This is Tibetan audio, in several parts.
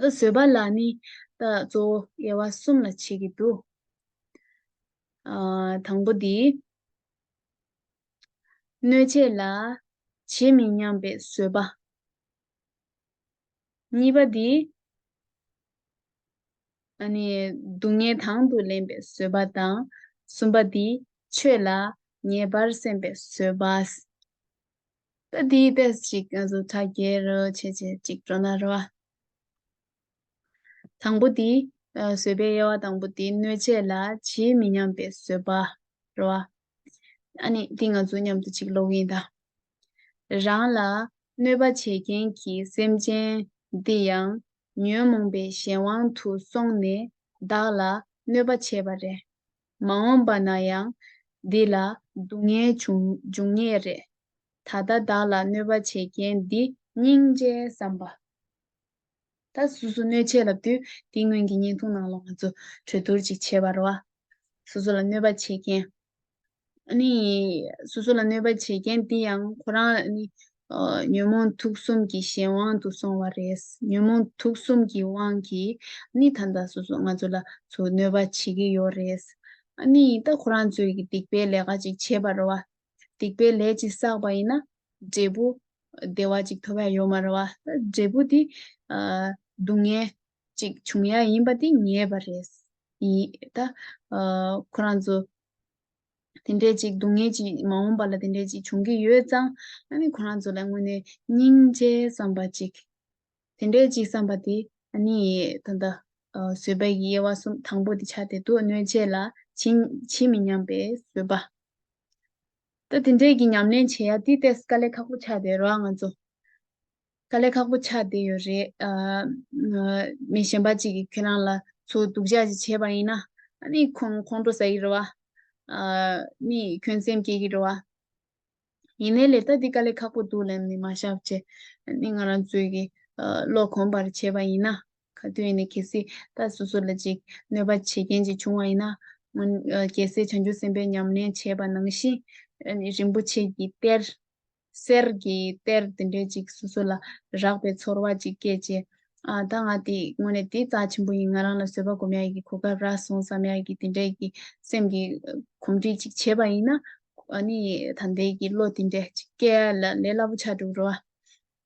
ལ་བཟོད་པ་ལ་ནི་ལྟ་གཙོ་བོ་དབྱེ་བ་གསུམ་ལ་ཕྱེ་གི་འདུག། དང་པོ་འདི། གནོད་བྱེད་ལ་ཇི་མི་སྙམ་པའི་བཟོད་པ། གཉིས་པ་འདི། སྡུག་བསྔལ་དང་དུ་ལེན་པའི་བཟོད་པ་དང། གསུམ་པ་འདི། ཆོས་ལ་ངེས་པར་སེམས་པའི་བཟོད་པ། ད་དེའི་དཔེ་ཞིག་ག་ཟུ་ཐ་རྒྱལ་རོ་བྱེད་བྱེད་གཅིག་སྤྲོ་ན་རོ། དང་པོ་དེ། བཟོད་པའི་དབྱེ་བ་དང་པོ་དེ་གནོད་བྱེད་ལ་ཇི་མི་སྙམ་པའི་བཟོད་པ་རོ། ཨ་ནི་དེ་ང་ཚོ་མཉམ་དུ་ཅིག་ལོག་ཡིན་ད། རང་ལ་གནོད་པ་བྱེད་མཁན་གྱི་སེམས་ཅན་འདི་ཡང་ཉོན་མོངས་པའི་གཞན་དབང་དུ་སོང་ནས་བདག་ལ་གནོད་པ་བྱེད་པ་རེད། མ་འོངས་པ་ན་ཡང་འདི་ལ་སྡུག་བསྔལ་འབྱུང་ངེས་རེད། ད་ལྟ་བདག་ལ་གནོད་པ་བྱས་རྐྱེན་འདི། སྙིང་རྗེའི་བསམ་པ། ད་སོ་སོ་གནོད་བྱེད་ལབ་དུས་དེའི་སྔོན་གྱི་བརྙན་ཐུང་ནང་ལོགས་ང་ཚོ་གྲོས་བསྡུར་ཅིག་བྱེད་པར་རོ། སོ་སོ་ལ་གནོད་པ་བྱས་རྐྱེན། ཨ་ནི། སོ་སོ་ལ་གནོད་པ་བྱས་རྐྱེན་འདི་ཡང་ཁོ་རང་ཨ་ནི། ཉོན་མོངས་དུག་གསུམ་གྱི་གཞན་དབང་དུ་སོང་བ་རེད། ཉོན་མོངས་དུག་གསུམ་གྱི་དབང་གིས་ནི་ད་ལྟ་སོ་སོ་ང་ཚོ་ལ་ཚོ་གནོད་པ་བྱེད་ཀྱི་ཡོད་རེད། ནི་ད་ཁོ་རང་ཚོས་ཀྱི་སྡིག་པའི་ལས་ཀ་ཅིག་བྱས་པར་རོ། སྡིག་པའི་ལས་ཅིག་བསགས་པ་ཡིན་ན། འབྲས་བུ། བདེ་བ་ཅིག་ཐོབ་ཡ་ཡོད་མ་རེད། འབྲས་བུ་དེ། སྡུག་བསྔལ། ཅིག་འབྱུང་ཡ་ཡིན་པ་དེ་ངེས་པ་རེད། ཡིན། ད། ཁོ་རང་ཚོ། དེ་འདྲའི་ཅིག་སྡུག་བསྔལ་གྱིས་མ་འོངས་པ་ལ་དེ་འདྲའི་ཅིག་འབྱུང་གིན་ཡོད་ཙང་ཨ་ནི་ཁོ་རང་ཚོ་ལ་དངོས་ནས་སྙིང་རྗེ་བསམ་པ་ཅིག་དེ་འདྲའི་ཅིག་བསམ་པ་དེ་ཨ་ནི་ད་ལྟ་བཟོད་པའི་གི་དབྱེ་བ་གསུམ་དང་པོ་དེ་ཆ་དེ་འདུག་གནོད་བྱེད་ལ་ཇི་མི་སྙམ་པའི་བཟོད་པ། ད་དེ་འདྲའི་གི་ཉམས་ལེན་བྱེད་ཡ་དེ་ཏས་ཀ་ལས་ཁག་པོ་ཆགས་ཏེ་རོགས་ང་ཚོ། དཀའ་ལས་ཁག་པོ་ཆགས་བསྡད་ཡོད་རེད། མི་གཞན་པ་ཅིག་གིས་ཁྱེད་རང་ལ་ཚོ་སྡུག་ཅག་ཅིག་བྱས་པ་ཡིན་ན་ནི་ཁོང་ཁོང་ཁྲོ་ཟ་གི་རེད་བ། ནི་ཁྱོད་སེམས་སྐྱེད་ཀྱི་རེད་བ། ཡིན་ནའི་ལས་ལྟ་འདི་དཀའ་ལས་ཁག་པོ་འདུག་ལན་ནི་མ་བཞག་བྱས་ནི་ང་རང་ཚོས་ཀྱིས་བློ་གོམས་པར་བྱས་པ་ཡིན་ན་ག་དུས་ནས་གལ་སྲིད་ད་སོ་སོ་ལ་ཅིག་གནོད་པ་བྱེད་མཁན་ཅིག་བྱུང་བ་ཡིན་ན། གལ་སྲིད་བྱང་ཆུབ་སེམས་དཔའི་ཉམས་ལེན་བྱས་པ་ནང་བཞིན་ནི་རིན་པོ་ཆེ་གྱིས་གཏེར། གསེར་གྱི་གཏེར་འདི་འདྲའི་ཅིག་སོ་སོ་ལ་རགས་པའི་ཚོར་བ་ཅིག་སྐྱེས་རྗེས། ད་ང་དེ་དངོས་གནས་དེ་རྩ་ཆེན་པོ་ཡིན་ང་རང་ལ་བཟོད་པ་སྒོམ་ཡག་གི་གོ་སྐབས་རག་སོང་བསམ་ཡག་གི་དེ་འདྲའི་གི་སེམས་ཀྱི་གོམས་འདྲིས་ཅིག་བྱས་པ་ཡིན་ན། ནི་ད་ལྟའི་གི་བློ་དེ་འདྲས་ཅིག་སྐྱེ་ཡ་ལ་ལས་སླ་པོ་ཆགས་འདུག་རོ།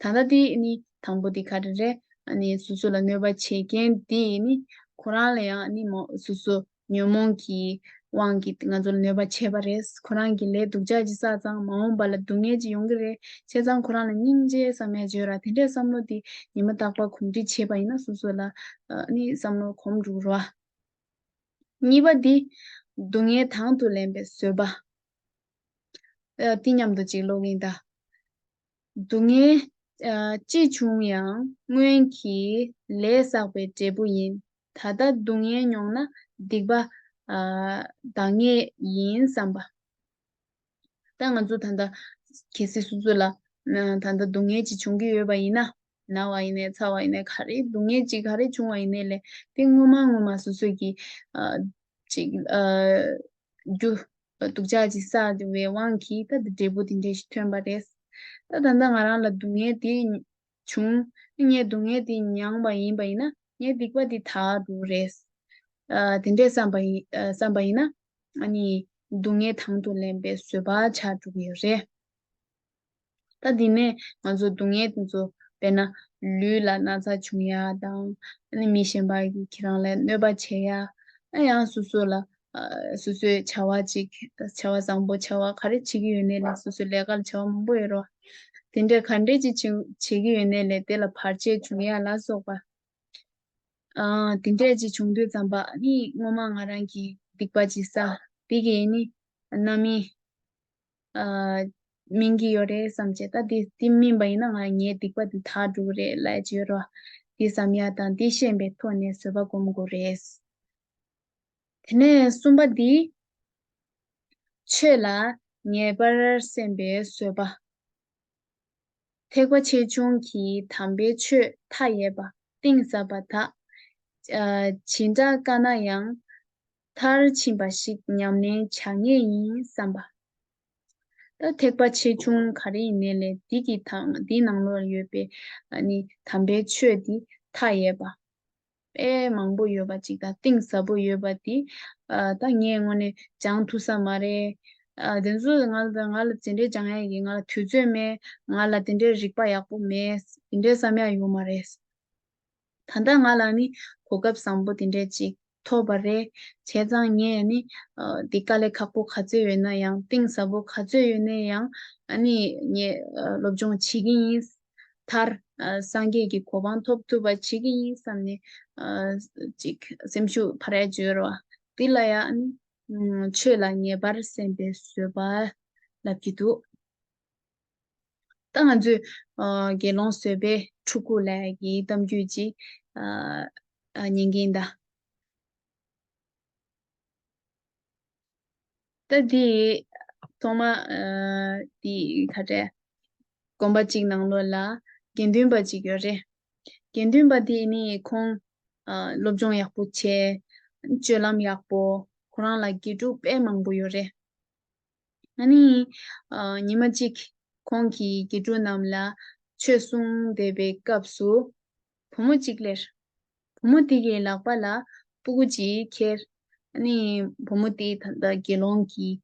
ད་ལྟ་དེ་ནི་དང་པོ་དེ་ག་རེ་རེད། ནི་སོ་སོ་ལ་གནོད་པ་བྱེད་མཁན་དེ་ནི་ཁོ་རང་ལ་ཡང་ནི་མ་སོ་སོ་ཉོན་མོངས་ཀྱི་དབང་གིས་ང་ཚོ་ལ་གནོད་པ་བྱས་པ་རེད། ཁོ་རང་གིས་ལས་སྡུག་ཅག་ཅིག་བསགས་ཙང་མ་འོངས་པ་ལ་སྡུག་བསྔལ་ཅིག་ཡོང་གི་རེད། བྱས་ཙང་ཁོ་རང་ལ་སྙིང་རྗེའི་ས་མལ་བརྗོད་ར་དེ་འདྲའི་བསམ་བློ་དེ་ཉི་མ་རྟག་པར་གོམས་འདྲིས་བྱས་པ་ཡིན་ན་སོ་སོ་ལ་ནི་བསམ་བློ་གོམས་འགྲོ་ར། གཉིས་པ་དེ། སྡུག་བསྔལ་དང་དུ་ལེན་པའི་བཟོད་པ། འདི་སྙམ་དུ་ཅིག་ཀློག་གིན་གདའ། སྡུག་བསྔལ། ཅི་བྱུང་ཡང་སྔོན་གྱི་ལས་བསགས་པའི་འབྲས་བུ་ཡིན། ད་ལྟ་སྡུག་བསྔལ་མྱོང་ན་སྡིག་པ་འདག་ངེས་ཡིན་བསམ་པ། ད་ང་ཚོ་ད་ལྟ་གལ་སྲིད་སོ་སོ་ལ་ད་ལྟ་སྡུག་བསྔལ་གྱིས་བྱུང་གི་ཡོད་པ་ཡིན་ན། ན་བ་ཡིན་ནས་ཚ་བ་ཡིན་ནས་ག་རེ་སྡུག་བསྔལ་ཅིག་ག་རེ་བྱུང་བ་ཡིན་ནས་ལས་དེ་ངོ་མ་ངོ་མ་སོ་སོས་ཀྱིས། ཅིག། རྒྱུ། སྡུག་ཅག་ཅིག་བསགས་འདི་བའི་དབང་གིས་ད་འདི་འབྲས་བུ་འདི་འདྲས་ཤིག་ཐོན་པ་རེད། ད་ད་ལྟ་ང་རང་ལ་སྡུག་བསྔལ་དེ། བྱུང། ངས་སྡུག་བསྔལ་དེ་མྱངས་པ་ཡིན་པ་ཡིན་ན་ངའི་སྡིག་པ་འདི་དག་འགྲོ་རེད། དེ་འདྲས་བསམ་པ་ཡིན་བསམ་པ་ཡིན་ན། ཨ་ནི། སྡུག་བསྔལ་དང་དུ་ལེན་པའི་བཟོད་པ་ཆགས་འགྲོ་གི་ཡོད་རེད། ད་དེ་ནས་ང་ཚོ་སྡུག་བསྔལ་དེ་ཚོ་བས་ན་ལུས་ལ་ན་ཚ་བྱུང་ཡ་དང། མི་གཞན་པ་ཁྱེད་རང་ལ་གནོད་པ་བྱས་ཡ། ཨ་ཡང་སོ་སོ་ལ་སོ་སོའི་བྱ་བ་ཅིག་བྱ་བ་བཟང་པོ་བྱ་བ་ག་རེ་བྱེད་ཀྱི་ཡོད་ནའི་ལ་སོ་སོའི་ལས་ཀ་ལ་བྱ་བ་མང་པོ་ཡོད་རོ། དེ་འདྲས་ག་འདྲས་ཅིག་བྱེད་ཀྱི་ཡོད་ནའི་ལས་དེ་ལ་བར་ཆད་བྱུང་ཡ་ལ་སོགས་པ། དེ་འདྲས་ཅིག་བྱུང་དུས་ཙམ་པ་ནི་སྔོན་མ་ང་རང་གིས་སྡིག་པ་ཅིག་བསགས་དེ་གིས་ནི་རྣམ་སྨིན། སྨིན་གྱི་ཡོད་རེད་བསམ་བྱས་ད་དེ་དེ་སྨིན་པ་ཡིན་ན་ང་ངའི་སྡིག་པ་དེ་དག་འགྲུབ་རེད་ལ་བརྗོད་རོགས་དེ་བསམ་ཡ་དང་དེ་ཤེས་པའི་ཐོག་ནས་བཟོད་པ་སྒོམ་དགོས་རེད། དེ་ནས་གསུམ་པ་འདི། ཆོས་ལ་ངེས་པར་སེམས་པའི་བཟོད་པ། ཐེག་པ་ཆེ་ཆུང་གི་དམ་པའི་ཆོས་མཐའ་ཡས་པ་གཏིང་ཟབ་པ་དག། ཇི་འདྲ་དཀའ་ན་ཡང། མཐར་ཕྱིན་པ་ཞིག་ཉམས་ལེན་བྱ་ངེས་ཡིན་བསམ་པ། ད་ཐེག་པ་ཆེ་ཆུང་ག་རེ་ཡིན་ནས་ལས་འདི་གི་དང་འདི་ནང་ལོ་ལ་ཡོད་པའི་ནི་དམ་པའི་ཆོས་འདི་མཐའ་ཡས་པ། དཔེ་མང་པོ་ཡོད་པ་ཅིག་དང་གཏིང་ཟབ་པོ་ཡོད་པ་འདི་ད་ངས་དངོས་ནས་སྦྱང་ཐུབ་ས་མ་རེད། དེ་ཚོ་ང་ལ་དེ་འདྲའི་སྦྱང་ཡག་གི་ང་ལ་དུས་ཚོད་མེད་ང་ལ་དེ་འདྲའི་རིག་པ་ཡག་པོ་མེད་དེ་འདྲའི་བསམ་ཡག་ཡོད་མ་རེད། ད་ལྟ་ང་ལ་ནི་གོ་སྐབས་བཟང་པོ་དེ་འདྲས་ཅིག་ཐོབ་པ་རེད། བྱས་ཙང་ངས་ནི། འདི་དཀའ་ལས་ཁག་པོ་ག་ཚོད་ཡོད་ན་ཡང་གཏིང་ཟབ་པོ་ག་ཚོད་ཡོད་ནས་ཡང་ནི་ངས་སློབ་སྦྱོང་བྱེད་ཀྱི་ཡིན། མཐར། སངས་རྒྱས་ཀྱི་གོ་འཕང་ཐོབ་ཐུབ་པ་བྱེད་ཀྱི་ཡིན་བསམ་ནས། ཅིག་སེམས་ཤུགས་ཕར་རལ་བྱོས་རོགས། འདི་ལ་ཡང་ནི། ཆོས་ལ་ངེས་པར་སེམས་པའི་བཟོད་པ་ལབ་ཀྱི་འདུག། ད་ང་ཚོས་དགེ་སློང་བཟོད་པའི་ཕྲུ་གུ་ལ་ཡི་གེའི་གཏམ་རྒྱུད་ཅིག་ཉན་གྱིན་གདའ། ད་དེ་ཐོག་མ་དེ་ཁ་བྲལ། དགོན་པ་གཅིག་ནང་ལོགས་ལ་དགེ་འདུན་པ་གཅིག་ཡོད་རེད། དགེ་འདུན་པ་དེ་ནི་ཁོང་སློབ་སྦྱོང་ཡག་པོ་བྱེད། སྤྱོད་ལམ་ཡག་པོ། ཁོ་རང་ལ་དགེ་ཕྲུག་དཔེ་མང་པོ་ཡོད་རེད། ཨཱ་ནི། ཉི་མ་གཅིག་ཁོང་གིས་དགེ་ཕྲུག་རྣམས་ལ་ཆོས་གསུང་བསྡད་པའི་སྐབས་སུ། བུ་མོ་གཅིག་ལྷེར། བུ་མོ་དེ་ཡི་ལག་པ་ལ་སྤུ་གུ་ཅིག་ཁྱེར། ཨཱ་ནི། བུ་མོ་དེས་ད་ལྟ་དགེ་སློང་གིས་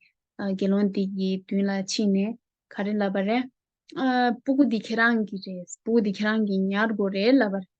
དགེ་སློང་དེ་ཡི་མདུན་ལ་ཕྱིན་ནས་ག་རེ་ལབ་པ་རེད། ཨ། སྤུ་གུ་འདི་ཁྱེད་རང་གི་རེད། སྤུ་གུ་འདི་ཁྱེད་རང་གི་ཉར་དགོས་རེད་ལབ་པ་རེད།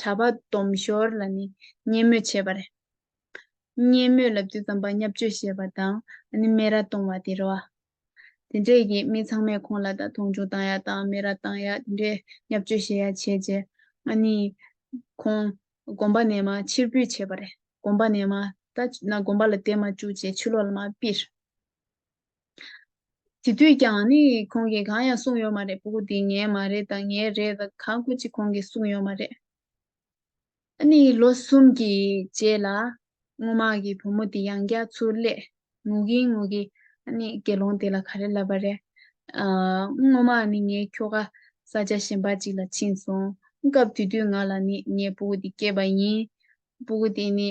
བྱ་བ་སྡོམ་ཞོར་ལ་ནི་བརྙས་སྨོད་བྱེད་པ། བརྙས་སྨོད་ལབ་རྒྱུ་ཙམ་པ་བརྙབ་གཅོད་བྱེད་པ་དང་སྨད་ར་གཏོང་བ་དེ་རོ། དེ་འདྲས་ཀྱིས་མི་ཚང་མས་ཁོང་ལ་ད་མཐོང་ཆུང་བཏང་ཡ་དང་སྨད་ར་བཏང་ཡ་དེ་འདྲས་བརྙབ་གཅོད་བྱེད་ཡ་བྱས་རྗེས་ཁོང་དགོན་པ་ནས་མ་ཕྱིར་འབུད་བྱས་པ། དགོན་པ་ནས་མ་ད་ན་དགོན་པ་ལ་བསྡད་མ་བཅུག་ཅེས་ཆུ་ལོག་ལ་མ་སྤིར། དེ་དུས་ཀྱང་ནི་ཁོང་གིས་གང་ཡང་གསུངས་ཡོད་མ་རེད་པོ་འདི་ངའི་མ་རེད་དང་ངའི་རེད་དང་གང་དགོས་ཅི་ཁོང་གིས་གསུངས་ཡོད་མ་རེད། ཨ་ནི་ལོ་གསུམ་གྱི་རྗེས་ལ་སྔོ་མ་གི་བུ་མོ་དེ་ཡང་རྒྱ་མཚོ་ལས་ངུ་གིན་ངུ་གིན་ཨ་ནི་དགེ་སློང་དེ་ལ་ག་རེ་ལབ་པ་རེད། སྔོ་མ་ནི་ངའི་ཁྱོ་ག་ས་ཆ་གཞན་པ་ཅིག་ལ་ཕྱིན་སོང་སྐབས་དེ་དུས་ང་ལ་ནི་ངའི་པུ་གུ་དེ་སྐྱེས་པ་ཡིན། པུ་གུ་དེ་ནི་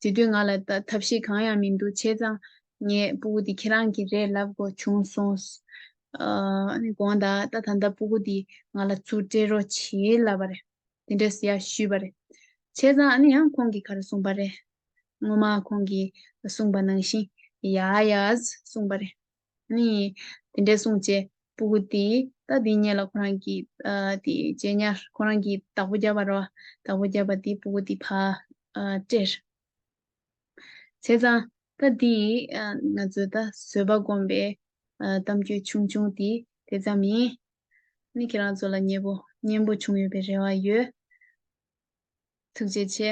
དེ་དུས་ང་ལ་ཐབས་ཤེས་གང་ཡང་མི་འདུག་བྱས་ཙང་ངས་སྤུ་གུ་འདི་ཁྱེད་རང་གི་རེད་ལབ་དགོས་བྱུང་གསུངས། ཨཱ། གོང་ད་ལྟ་ད་ལྟ་སྤུ་གུ་འདི་ང་ལ་ཚུར་སྤྲད་རོགས་བྱེད་ལབ་པ་རེད། དེ་འདྲ་ཟེར་ཡག་ཞུས་པ་རེད། བྱས་ཙང་ཨཱ་ནི་ཡང་ཁོང་གིས་ག་རེ་གསུངས་པ་རེད། སྔོན་མ་ཁོང་གིས་གསུངས་པ་ནང་བཞིན་ཡ་ཡཱས་གསུངས་པ་རེད། ཨཱ་ནི། དེ་འདྲས་གསུངས་རྗེས་སྤུ་གུ་འདི་ད་འདི་ཉིད་ལ་ཁོ་རང་གིས་དེ་རྗེས་ཉར་ཁོ་རང་གིས་བདག་པོ་བརྒྱབ་པ་རེད། བདག་པོ་བརྒྱབ་པ་འདིས་སྤུ་གུ་འདི་ཕར་སྤྲད། བྱས་ཙང་ད་འདི་ཡིས་ང་ཚོའི་ད་བཟོད་པ་སྒོམ་པའི་གཏམ་རྒྱུད་ཆུང་ཆུང་དེ་དེ་ཙམ་ཡིན། ནི་ཁྱེད་རང་ཚོ་ལ་མཉེས་པོ་སྙན་པོ་བྱུང་ཡོད་པའི་རེ་བ་ཡོད། ཐུགས་རྗེ་ཆེ།